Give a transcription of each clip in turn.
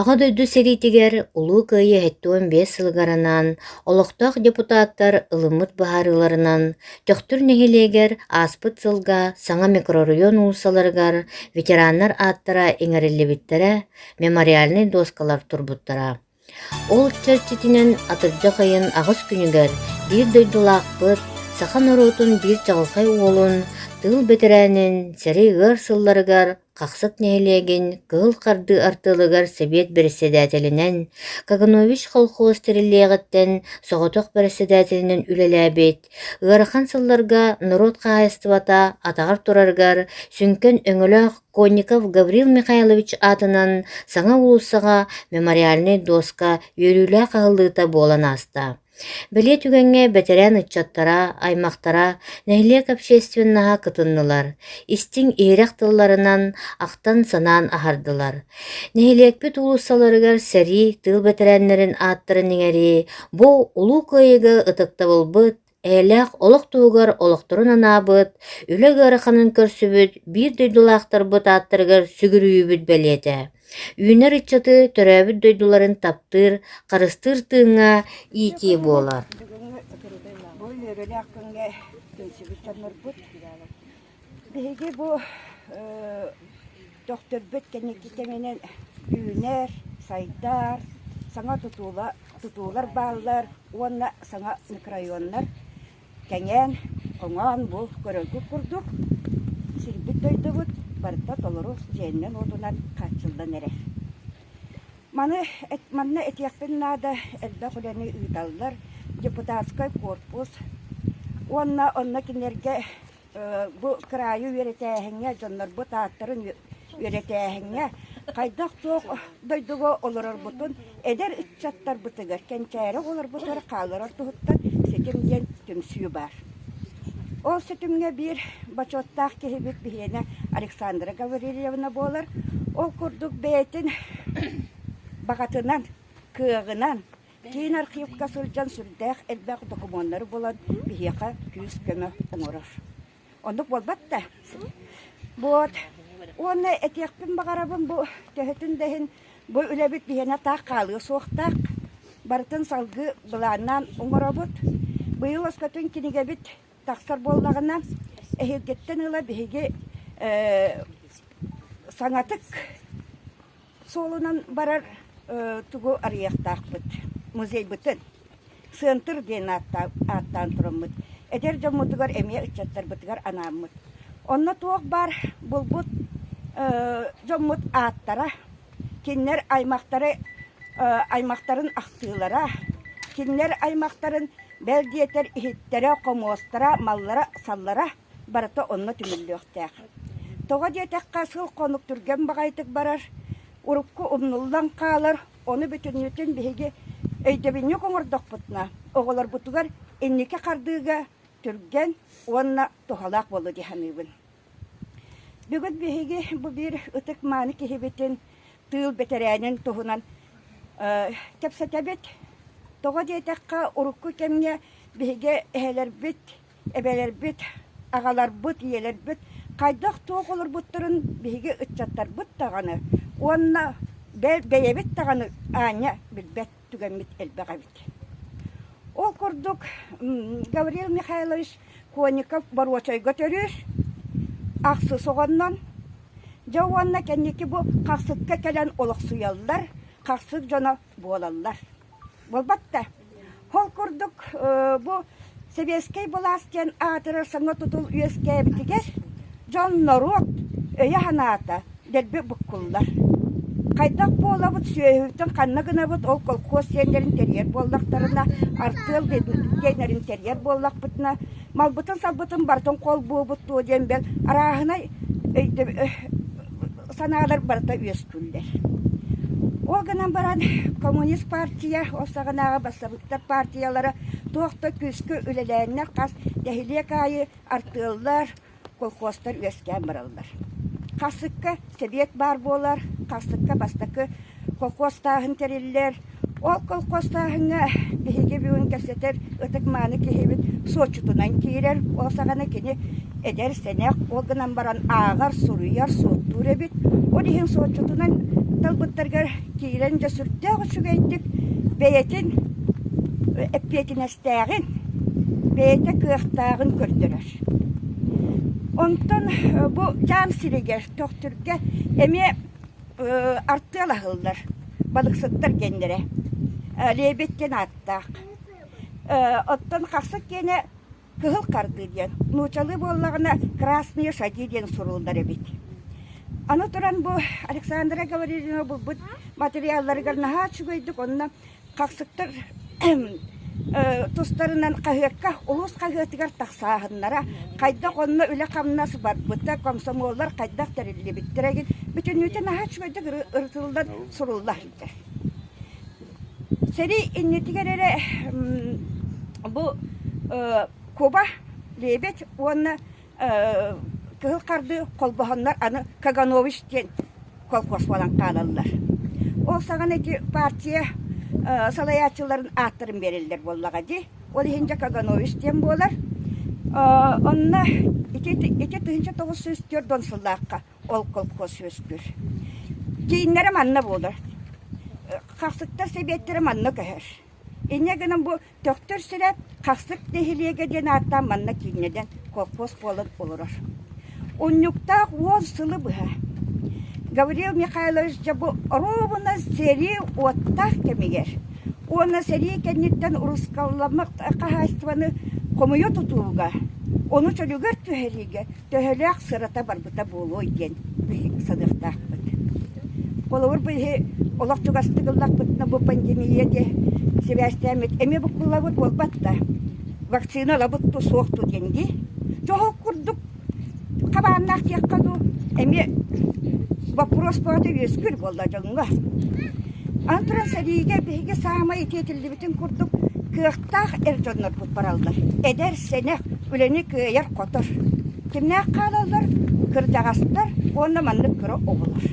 Аҕа дойду сэриитигэр Улуу Кыайыы сэттэ уон биэс сылыгар анаан олохтоох депутаттар ылыммыт быһаарыыларынан Төхтүр нэһилиэгэр ааспыт сылга саҥа микрорайон уулуссаларыгар ветераннар ааттара иҥэриллибиттэрэ, мемориальнай дуоскалар турбуттара. Ол чэрчитинэн атырдьах ыйын аҕыс күнүгэр биир дойдулаахпыт, саха норуотун биир чаҕылхай уолун, тыыл бэтэрээнин, сэрэй ыар сылларыгар Хахсыт нэһилиэгин кыһыл хардыы артыылыгар сэбиэт бэрэссэдээтэлинэн, Каганович колхоз тэриллиэҕиттэн соҕотох бэрэссэдээтэлинэн үлэлээбит, ыарахан сылларга норуот хаһаайыстыбата атаҕар турарыгар сүҥкэн өҥөлөөх Конников Гаврил Михайлович аатынан саҥа уулуссаҕа мемориальнай дуоска үөрүүлээх аһыллыыта буолан ааста. Бэлиэ түгэҥҥэ бэтэрээн ыччаттара, аймахтара, нэһилиэк общественнаһа кытыннылар, истиҥ иһирэх тылларынан ахтан-санаан аһардылар. Нэһилиэкпит уулуссаларыгар сэрии тыыл бэтэрээннэрин ааттарын иҥэрии бу Улуу Кыайыыга ытыктабылбыт, Эйэлээх олох туһугар олохторун анаабыт, үлэ ыараханын көрсүбүт биир дойдулаахтарбыт ааттарыгар сүгүрүйүүбүт бэлиэтэ. Үүнэр ыччаты төрөөбүт дойдуларын таптыыр, харыстыыр тыыҥҥа иитии буолар. Бу үөрүүлээх күҥҥэ түмсүбүт дьоннорбут Биһиги бу төхтөрбүт кэнники кэминэн үүнэр, сайдар, саҥа тутуулар бааллар уонна саҥа микрорайоннар кэҥээн, хоҥоон бу көрөргүт курдук сирбит-дойдубут барыта толору сиэнинэн-уотунан хааччыллан эрэр. Маны манна этиэхпин наада элбэх үлэни ыыталлар депутатскай корпус уонна онно кинилэргэ бу кыраайы үөрэтээһиҥҥэ, дьоннорбут ааттарын үөрэтээһиҥҥэ хайдах-туох дойдуга олорорбутун эдэр ыччаттарбытыгар, кэнчээри оҕолорбутугар хааларар туһуттан ситим диэн түмсүү баар. Ол ситимҥэ биир бочуоттаах киһибит биһиэнэ Александра Гаврильевна буолар. Ол курдук бэйэтин баҕатынан, кыаҕынан, Киин архыыпка сылдьан сүрдээх элбэх докумуоннары булан биһиэхэ күүс-көмө оҥорор. Оннук буолбат да. Вот. Уонна этиэхпин баҕарабын бу төһөтүн да иһин бу үлэбит биһиэнэ таах хаалыа суохтаах. Барытын салгыы былааннаан оҥоробут. Быйыл өскөтүн кинигэбит тахсар буоллаҕына, эһиилгиттэн ыла биһиги саҥатык суолунан барар тугу арыйыахтаахпыт музейбытын Сыантыр диэн ааттаан тураммыт эдэр дьоммутугар эмиэ ыччаттарбытыгар анааммыт онно туох баар булбут дьоммут ааттара кинилэр аймахтары аймахтарын ахтыылара, кинилэр аймахтарын бэл диэтэр иһиттэрэ, хомуостара, маллара-саллара барыта онно түмүллүөхтээх. Тоҕо диэтэххэ, сыл-хонук түргэн баҕайытык барар, урукку умнуллан хаалар, ону бүтүннүүтүн биһиги өйдөбүнньүк оҥордохпутуна, оҕолорбутугар инники хардыыга түргэн уонна туһалаах буолуо дии саныыбын. Бүгүн биһиги бу биир ытык-мааны киһибитин, тыыл бэтэрээнин туһунан кэпсэтэбит. Тоҕо диэтэххэ, урукку кэмҥэ биһиги эһэлэрбит, эбэлэрбит, аҕаларбыт, ийэлэрбит хайдах-туох олорбуттарын биһиги ыччаттарбыт даҕаны уонна бэйэбит даҕаны аанньа билбэт. түгэммит элбэх эбит. Ол курдук Гаврил Михайлович Коников боруочайга төрүүр ахсы соҕоннон дьэ уонна кэнники бу хахсыкка кэлэн олохсуйаллар, хахсык дьоно буолаллар. Буолбатта? Ол курдук бу Сэбиэскэй былаас диэн аатырар соҥҥо тутул үөскээбитигэр дьон норуот өйө-санаата дэлби буккуллар. Хайдах буолабыт, сүөһүбүтүн ханна гынабыт, ол колхоз сиэннэрин тэрийэр буоллахтарына, артыал диэннэрин тэрийэр буоллахпытына, малбытын-салбытын барытын холбуубут дуо диэн бэл арааһынай өйдөб санаалар барыта үөскүүллэр. Ол гынан баран, коммунист партия ол саҕанааҕы бассабыктар партиялара туох да күүскэ үлэлээннэр хас нэһилиэк аайы артыаллар, колхозтар үөскээн бараллар. Хасыкка сэбиэт баар буолар, хасыкка бастакы колхозтааһын тэриллэр. Ол колхозтааһыҥҥа биһиги бүгүн кэпсэтэр ытык-мааны киһибит суотчутунан киирэр. Ол саҕана кини эдэр-сэнэх, ол гынан баран ааҕар, суруйар, суоттуур эбит. Ол иһин суотчутунан талбыттаргар киирэн дьэ сүрдээх үчүгэйдик бэйэтин эппиэтинэстээҕин, бэйэтэ кыахтааҕын көрдөрөр. Онтон бу Чаам сиригэр Төхтүргэ эмиэ артыал аһыллар балыксыттар геннэрэ Лебедь диэн ааттаах. Оттон хахсыт киэнэ Кыһыл хардыы диэн, нуучалыы буоллаҕына Красные шаги диэн суруллар эбит. Аны туран бу Александра Говорилина булбут материалларыгар наһаа үчүгэйдик онно Хахсыктар тустарынан хаһыакка улуус хаһыатыгар тахсааһыннара, хайдах онно үлэ-хамнас барбыта, комсомоллар хайдах тэриллибиттэр egin бүтүннүүтэ наһаа үчүгэйдик ырытыллан, сурулла сылдьар. Сэрии иннитигэр эрэ бу Куба, лебедь уонна кыһыл хардыы холбоһоннор аны Каганович диэн колхоз буолан хаалаллар. Ол саҕана ити партия салайааччыларын ааттарын бериллер буоллаҕа дии. Ол иһин дьэ Каганович диэн буолар. Онно ити тыһынча тоҕус жүз төрт он сыллаахха ол колхоз үөскүүр. Дьииннэрэ манна буолар. Хахсыттар сэбиэттэрэ манна көһөр. Инньэ гынан бу Төхтүр-Сүрэт Хахсык нэһилиэгэ диэн ааттаан манна кииннэнэн колхоз буолан олорор. Унньуктаах уон сылы быһа Гаврил Михайлович Дьабы оруобуна сэрии уоттаах кэмигэр уонна сэрии кэнниттэн урусскалламмыт хаһаайыстыбаны хомуйа тутууга, ону чөлүгэр түһэриигэ төһөлөөх сырата барбыта буолуой диэн биһик саныахтаахпыт. Холобур, биһи олох чугастык ыллахпытына бу пандемия диэ сибээстээммит эми буккуллабыт буолбат да вакцина ылабыт ту суох ту диэн дии чоһук курдук хабааннаах диэххэ дуу эми боппуруос бөҕөтө үөскүүр буолла дьоҥҥо аны туран сэриигэ биһиги саамай итиэтиллибит эттин курдук кыахтаах эр дьоннорбут бараллар. Эдэр, сэнэх, үлэни кыайар-хотор. Кимнээх хаалаллар? Кырдьаҕастар уонна маннык кыра оҕолор.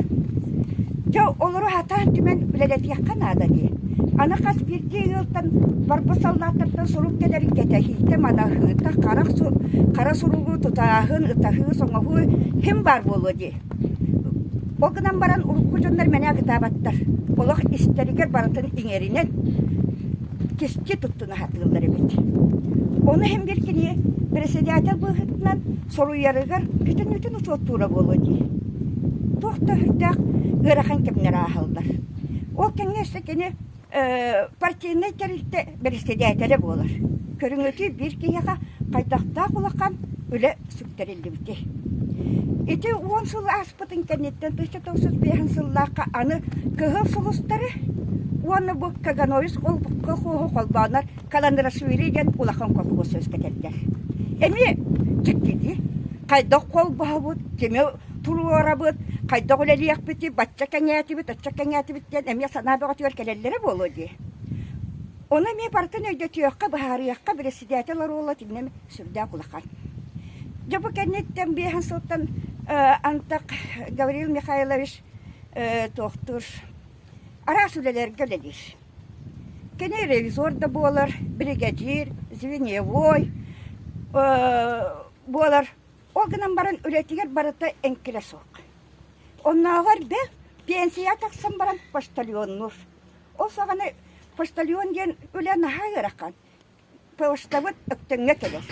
Дьэ, олору сатаан түмэн үлэлэтиэххэ наада дии. Аны хас биирдии ыалтан барбыт саллааттартан сурук кэлэрин кэтэһиитэ, манаһыыта, харах, хара суругу тутааһын, ытаһыы, соҥоһуу ким баар буолуо дии. Ол гынан баран урукку дьоннор мэнэ агытаабаттар. Олох истэригэр барытын иҥэринэн кисти туттуна сатыыллар эбит. Ону иһин бир кини председатель быһыытынан соруйарыгар бүтүн-бүтүн учуоттуура буолуо дии. Туох да өһүйдээх ыарахан кэмнэр ааһаллар. Ол кэнниэстэ кини Э, партийнай тэрилтэ бэрэссэдээтэлэ буолар. Көрүҥөтүү биир киһиэхэ хайдахтаах улахан үлэ сүктэриллибитий? Ити уон сыл ааспытын кэнниттэн тысяча тоҕус биэһин сыллаахха аны кыһыл сулустары уонна бу Кагановис олбукка хоһу холбоонор Каландрашвили диэн улахан колхуос үөскэтэллэр. Эмиэ дьиктитии, хайдах холбоһобут, кими туруорабыт, хайдах үлэлиэхпитий, бачча кэҥээтибит, оччо кэҥээтибит диэн эмиэ санаа бөҕөтүгэр кэлэллэрэ буолуо дии. Оны эмиэ барытын өйдөтүөххэ, быһаарыахха, бэрэссэдээтэл оруола итиннэ сүрдээх улахан. Дьэ бу кэнниттэн биэһэн сылтан антах Гаврил Михайлович туохтуур араас үлэлэргэ үлэлиир. Кини ревизор да буолар, бригадир, звеньевой буолар Ол гынан баран үлэтигэр барыта эҥкилэ суох. Оннооҕор да пенсияҕа тахсан баран почтальоннуур. Ол саҕана почтальон диэн үлэ наһаа ыарахан. Почтабыт Өктөҥҥө кэлэр.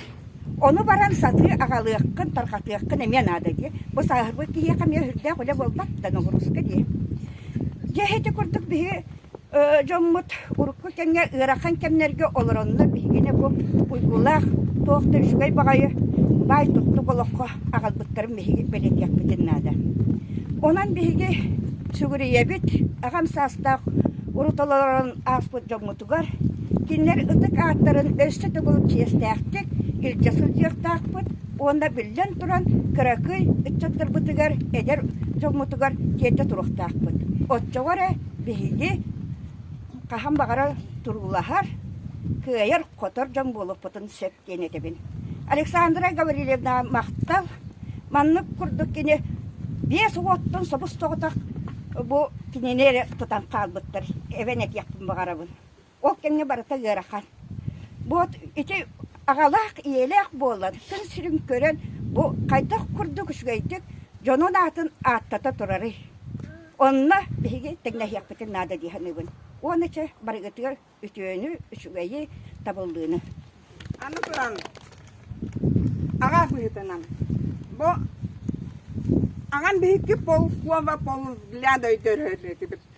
Ону баран сатыы аҕалыаххын, тарҕатыаххын эмиэ наада дии. Бу сааһырбыт киһиэхэ эмиэ өһүрдээх үлэ буолбат да, ноҕурууска дии. Дьэ, ити курдук биһи дьоммут урукку кэмҥэ ыарахан кэмнэргэ олороннор биһигини бу уйгулаах туох да үчүгэй баҕайы баай туттук олоххо аҕалбыттарын биһиги бэлиэтиэхпитин наада. Онон биһиги сүгүрүйэбит аҕам саастаах урут олорон ааспыт дьоммутугар кинилэр ытык ааттарын өссө төгүл чиэстээхтик илдьэ сылдьыахтаахпыт уонна биллэн туран кыракый ыччаттарбытыгар эдэр дьоммутугар тиэрдэ туруохтаахпыт. Оччоҕо эрэ Биһиги хаһан баҕарар туруулаһар, кыайар, хотор дьон буолуохпутун сөп диэн этэбин. Александра Гаврильевна махтал. Маннык курдук кини биэс уоттун собус-соҕотох бу кинини эрэ тутан хаалбыттар. Эбэн этиэхпин баҕарабын. Ол кэмҥэ барыта ыарахан. Бу ити аҕалаах, ийэлээх буолан, күн сирин көрөн, бу хайдах курдук үчүгэйдик дьонун аатын ааттата турарый? Онно биһиги тэҥнэһиэхпитин наада дии саныыбын. Уонна чэ барыгытыгар үтүөнү, үчүгэйи, табыллыыны. Аны туран, аҕа быһыытынан, бу аҕам биһикки полкова полгляда өйдөрөр этибит.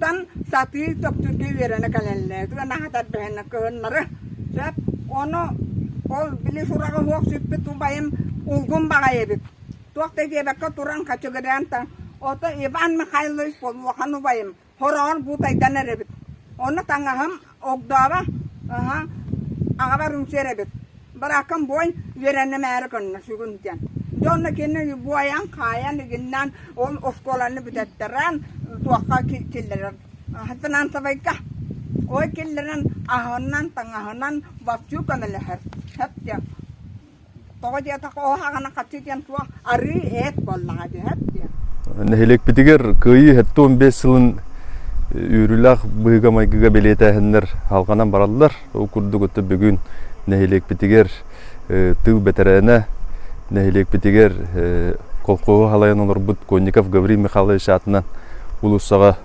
Тан сатыы тохтуурга үөрэнэ кэлэллэр. Тыанаһа тарбыһынна кыһыннары. Сөп. Ону ол били сураҕа суох сүппүт убайым улгум баҕайы эбит. Туох да диэбэккэ туран хачыгыраан та ото Иван Михайлович Полуохан убайым хороҕор буутайдан эрэбит. Ону таҥаһым Огдооро, аһа, аҕабар үҥсүөр эбит. Барааккам буойн үөрэннэмээри көннө сүгүн диэн. Дьэ онно кинини буойан, хаайан, игиннээн ол оскуоланы бүтэттерэн туохха киллэрэр. Финансовайга ой киллэрэн аһынан, таҥаһынан баччуу көмөлөһөр. Сөп диэн. Тоҕо диэтэх ол аҕана хаччы диэн суох арыы эт буоллаҕа диһэр диэн. Нэһилиэкпитигэр кыайыы хэттэ он бес сылын үүрүлээх быһыыга-майгыга бэлиэтээһиннэр халҕанан бараллар. Ол курдук өттө бүгүн нэһилиэкпитигэр тыыл бэтэрээнэ, нэһилиэкпитигэр колхоһу халайан олорбут Конников Гаврил Михайлович аатынан улуусаҕа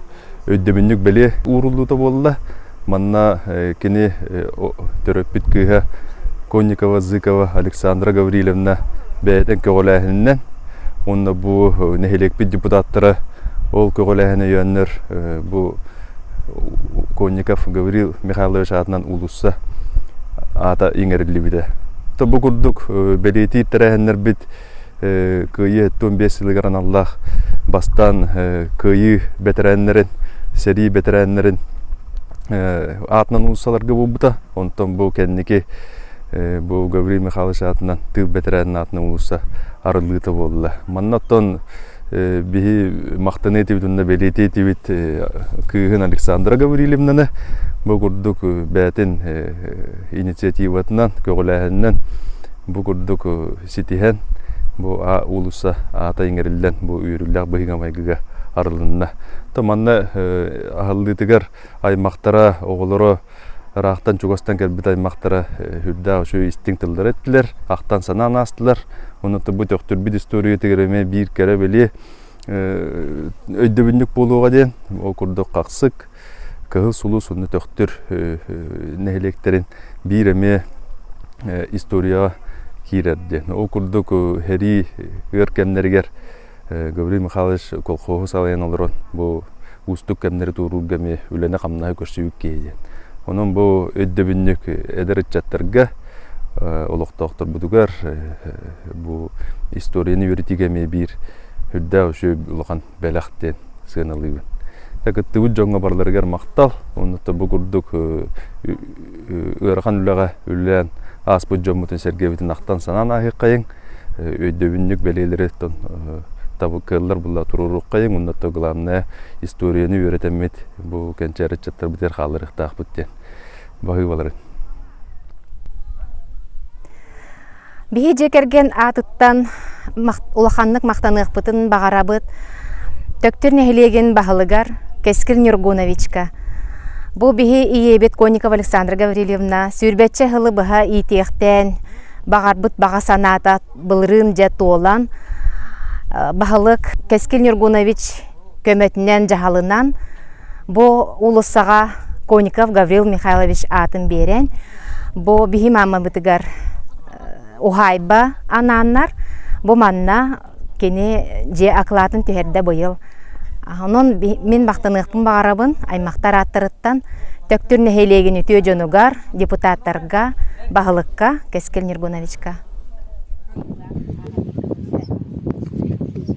өйдөбүнньүк бэлиэ ууруллуута буолла. Манна кини төрөппүт кыыһа Конникова, Зыкова Александра Гаврилевна бэйэтин көҕүлээһининэн уонна бу нэһилиэкпит депутаттара ол көҕүлээһин өйөөннөр бу Конников Гаврил Михайлович аатынан уулусса аата иҥэриллибитэ. Бу курдук бэлиэтиир тэрээһиннэрбит Кыайыы эттуон биэс сылыгар аналлаах бастаан кыайыы бэтэрээннэрин, сэрии бэтэрээннэрин аатынан уулуссаларга буолбута. Онтон бу кэнники бу Гаврил Михайлович аатынан тыыл бэтэрээнин аатынан уулусса арыллыыта буолла. Манна оттон биһи махтаныы этибит уонна бэлиэтии этибит кыыһын Александра Гаврилевнаны бу курдук бээтин инициативатынан, көҕүлээһининэн бу курдук ситиһэн бу уулусса аата иҥэриллэн бу үөрүүлээх быһыыга майгыга арылынна. То манна аһыллыытыгар аймахтара, оҕолоро ыраахтан чугастан кэлбит аймахтара үрдээх үчүгэй истиҥ тыллары эттилэр, ахтан санаан аастылар. Онуота бу төхтүрбүт историятыгар эмэ биир кэрэ-бэлиэ өйдөбүнньүк буолуоҕа диэн ол курдук хахсык, Кыһыл сулус уонна Төхтүр нэһилиэктэрин биир эмиэ историяҕа киирэр диэн. Ол курдук сэрии ыар кэмнэригэр Гаврил Михайлович колхоһу салайан олорон бу уустук кэмнэри туоруурга эмиэ үлэни-хамнаһы көрсүбүт киһи диэн. Онон бу өйдөбүнньүк эдэр ыччаттарга, олохтоохторбутугар бу историяны үөрэтиигэ эмиэ биир үрдээх үчүгэй улахан бэлэх диэн сыаналыыбын. кыттыбыт дьоҥҥо барыларыгар махтал. Онно бу курдук ыарахан үлэҕэ үлэлээн ааспыт дьоммутун сэргэбитин ахтан санаан аһыаххайыҥ. Өйдөбүнньүк бэлиэлэри кыаллар булла туруоруоххайыҥ. Онно главное историяны үөрэтэммит бу кэнчээр ыччаттар битэр хааларыахтаахпыт диэн баһыы баларын. Биһи дьиэ кэргэн аатыттан улаханнык махтаныахпытын баҕарабыт Төктүр нэһилиэгин баһылыгар Кэскил Нюргуновичка. Бу биһи ийэбит Конникова Александра Гаврильевна сүүрбэччэ сылы быһа иитиэхтээн баҕарбыт баҕа санаата былырыын дьэ туолан баһылык Кэскил Нюргунович көмөтүнэн дьаһалынан бу уулуссаҕа Конников Гаврил Михайлович аатын биэрэн бу биһи маамабытыгар уһаайба анааннар бу манна кини дьиэ акылаатын түһэрдэ быйыл онон мин махтаныахпын баҕарабын аймахтар ааттарыттан Төктүр нэһилиэгин үтүө дьонугар депутаттарга баһылыкка Кэскил Нергуновичка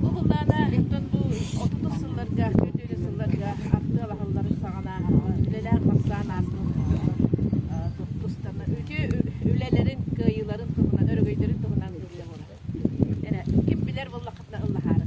Бу былаана иккон бу отутун сылларга, төрдүөрү сылларга артыалаһалларын саҕана үлэлээх хамсаан аартыыллар устана үлэлэрин кыайыыларын туһунан, өрөгөйдөрүн туһунан ыллаһыылар. Эрэ ким билэр буоллаххытына ыллаһаары.